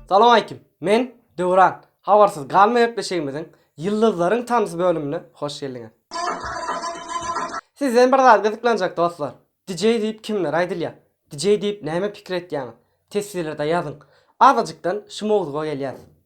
Salam aýkim. Men Döwran. Habarsyz galma gepleşigimiziň Ýyldyzlaryň tanysy bölümine hoş geldiňiz. Sizden bir zat gyzyklanjak dostlar. DJ diýip kimlere aýdylýar? DJ diýip näme pikir etýäňiz? Teswirlerde ýazyň. Azajykdan şu mowzuga gelýäs.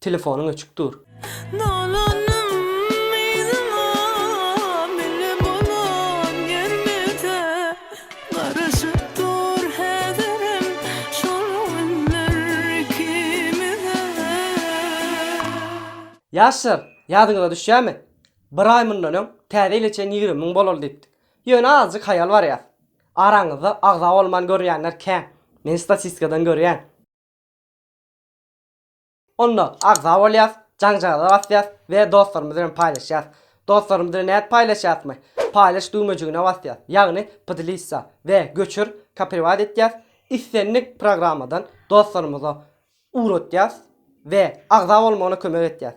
Telefonyň öçük dur. Dolanym yzyňa mele bolan ýermede Garaşyp dur häzirem şol günler ikimize. Ýaşlar, ýadyňyza düşýärmi? Bir aý mundan öň täze ýyla çen ýigrimi müň bolaly diýipdik. Ýöne azajyk haýal barýas. Araňyzda agza bolman görýänler kän. Men statistikadan görýän. Onda agza bolýas, jaňjagaza basýas we dostlarymyz bilen paýlaşýas. Dostlarymyz bilen nädip paýlaşýasmy? Paýlaş düwmejigine basýas, ýagny Podelissa we Göçür, Kopriwat etýäs, islendik programmadan dostlarymyza ugratýas we agza bolmagyna kömek etýäs.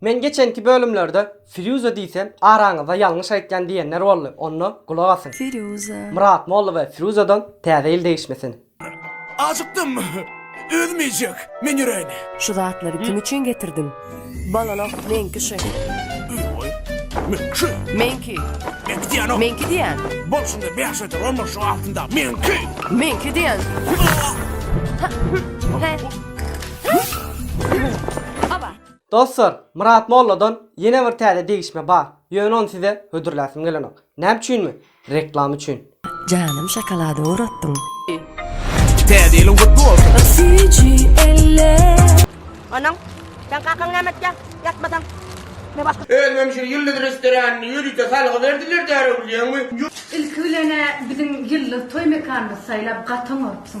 Men geçenki bölümlerde Firýuza diýsem araňyzda ýalňyş aýtýan diýenler boldy onda gulak asyň. Firýuza. Myrat molla we Firuzadan täze ýyl degişmesin. Ajykdym. Özüm iýjek. Men ýöräýin. Şu zatlary kim üçin getirdiň? Balala, meňki şu. Öý-oý. Meňki şu. Meňki. Meňki diýýän-ow. Meňki diýýän. Bol şunda bäş öter on bol şu altynda. Meňki. Meňki diýýän. Hä. Hä. Hä. Aba. Dostlar, Myrat molladan ýene bir täze degişme bar, ýöne ony size hödürläsim gelenok. Näme üçinmi? Reklama üçin. Janym şokolada uratdyň. Täze ýylyň gutly bolsun! Onam, Sen kakaň näme etýä? Ýatmasaň. Me başga. Özümem şu Ýyldyz restoranynda ýörite salgy berdiler därew bilýäňmi? Ilki bilenä biziň ýyldyz toý mekanymyzy saýlap gaty oňarpsyň.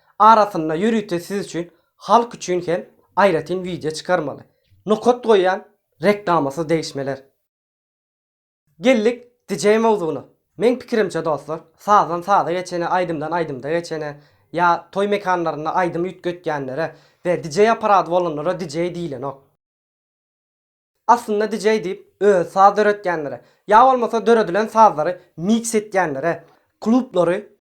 arasynda ýörite siz üçin halk üçin hem aýratyn wideo çykarmaly. Nokat goýýan reklamasyz degişmeler. Geldik DJ mowzugyna. Meň pikirimçe dostlar sazdan saza geçene aýdymdan aýdymda geçene ýa toý mekanlarynda aýdym üýtgetýänlere we DJ aparady bolanlara DJ diýilenok. Aslynda DJ diýip özi saz döretýänlere ýa bolmasa döredilen sazlary miks etýänlere, klublary,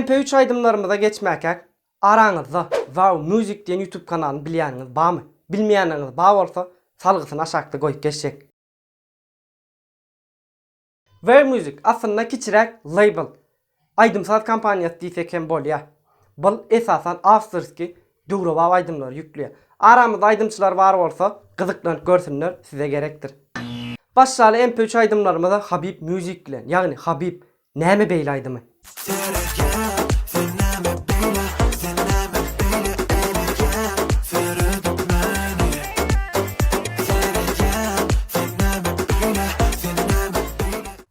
MP üç aýdymlarymyza geçmäkäk, araňyzda Wow Music diýen YouTube kanalyny bilýäniňiz barmy? Bilmeýäniňiz bar bolsa, salgysyny aşakda goýup geçjek. Where Music aslynda kiçiräk label, aýdym-saz kompaniýasy diýsek hem bolýar. Bul esasan awtorskiý, döwrebap aýdymlary ýükleýär. Aramyzda aýdymçylar bar bolsa, gyzyklanyp görsünler, size gerekdir. Başlaly MP üç aýdymlarymyza Habib Music bilen, ýagny Habib, näme beýle aýdymy?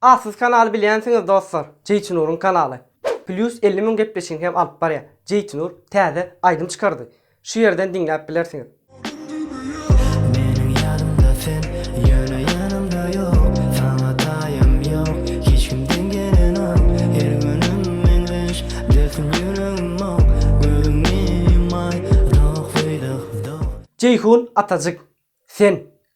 A siz kanaly bilýänsiňiz dostlar. Jeýtinuryň kanaly. Plýus elli müň gepleşigini hem alyp barýar. Jeýtinur täze aýdym çykardy. Şu ýerden diňläp bilersiňiz. Meniň ýanymda sen ýöne ýanymda ýok Saňa taýam ýok hiç kim deň gelenok Her günüm meňzeş dersin ýüregim ok Gözüňi ýumaý doh weýdoh doh. Jeýhun Atajyk sen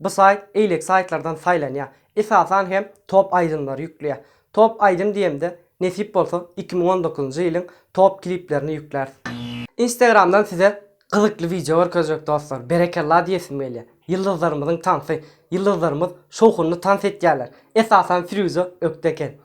Bu saýt eýleki saýtlardan saýlanýar. Esasan hem top aýdymlary ýükleýär. Top aýdym diýemde, nesip bolsa iki müň on dokuzynjy ýylyň top kliplerini ýükläris. Instagramdan size gyzykly wideo görkezjek dostlar. Berekella diýesim gelýär. Ýyldyzlarymyzyň tansy. Ýyldyzlarymyz şowhunly tans etýärler. Esasan Firuza ökde eken.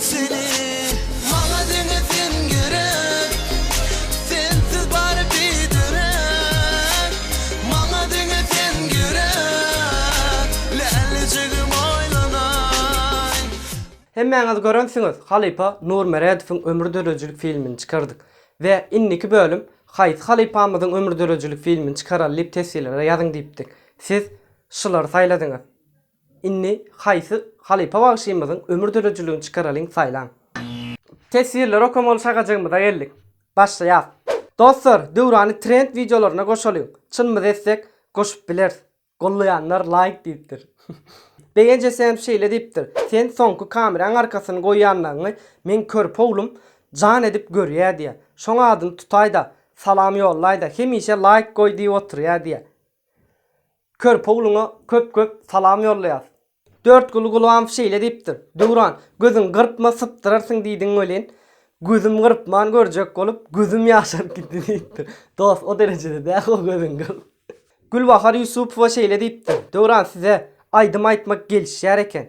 Seni maňa deňesin gerek Sensiz bary biderek Maňa deňesin gerek Lälejigim oýlanaý. Hemmäňiz görensiňiz halypa Nur Meredowyň ömür döredijilik filmini çykardyk we indiki bölüm haýsy halypamyzyň ömür döredijilik filmini çykaraly diýip teswirlere ýazyň diýipdik siz şulary saýladyňyz. Indi haýsy halypa bagşymyzyň ömür döredijiligini çykaralyň saýlaň. Teswirleri okamaly şagajygymyza geldik. Başlaýas. Dostlar Döwrany trend wideolaryna goşalyň. Çynymyzy etsek goşup bileris. Gollaýanlar laýk diýipdir. Begenç ese hem şeýle diýipdir. Sen soňky kameraň arkasyny goýanlaňňy meň körpe oglum jan edip görýä diýä. Şoň adyny tutaýda, salam ýollaýda hemişe laýk goý diýip oturýa diýä. Körpe ogluňa köp-köp salam ýollaýas. Dörtguly Gulbanow şeýle diýipdir, Döwran, gözüňi gyrpma, sypdyrarsyň diýdiň welin, gözüm gyrpman görjek bolup, gözüm ýaşaryp gitdi diýipdir. Dost, o derejede däl-ow, gözüňi gyrp. Gülbahar Ýusupowa şeýle diýipdir, Döwran, size aýdym aýtmak gelişýär eken.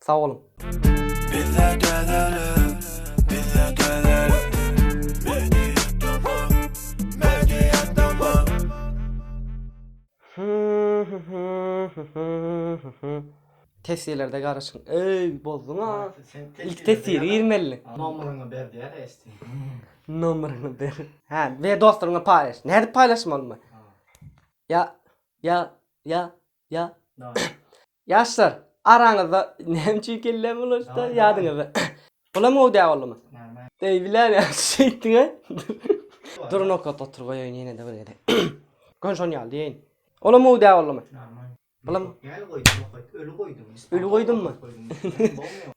Sag boluň. Bizde dönerik, bizde dönerik. Mediýa tamam, mediýa tamam. Tesirlerde garaşyň eý bozduň a. Ilki tesiri girmeli. Nomeriňi ber diýer eşdi. Nomeriňi ber. Hä ber dostlaryňa paýlaş. Nädip paýlaşmalymy? Ýa ýa ýa ýa. Ýaşlar, araňyzda näme üçin kellem bulaşdy ýadyňyzda? Bulam gowy däl boldumy? Eý, bilän ýagşy şey etdiň-ä. Dur nokat otur goýaýyn ýene-de bir gezek. Göni şony ýaly diýeýin. Olam gowy däl boldumy? Bulam. Däl goýduň nokat, öli goýduň. Öli goýdummy?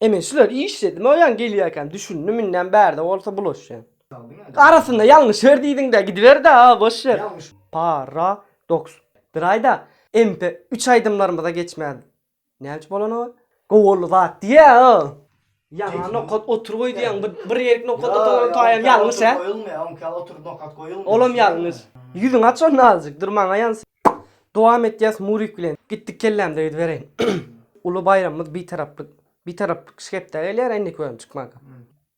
Ä men şular işledim-ä oýan gelýärkäm düşündim, indem bärde bolsa bulaşýan. Arasynda ýalňyş ber diýdiňdä gidiberde a boş ber. Paradoks. Bir aýda MP üç aýdymlarymyza geçmedi. Näme üçin bolany ol? Gowy boldy zat diýä o. Ýaňa nokat otur goý diýäň bir bir ýerik nokat oturana taýam ýalňyş hä? Goýulmaýa oňki ýaly otur nokat goýulmaýa. Olam ýalňyş. Ýüzüňi aç onda azjyk dur maňa ýans. Dowam etýäs Murik bilen. Gitdik kellämde gidibereýin. Uly baýramymyz Bitaraplyk Bitaraplyk şkepde gelýär endiki bölüm çykmaga.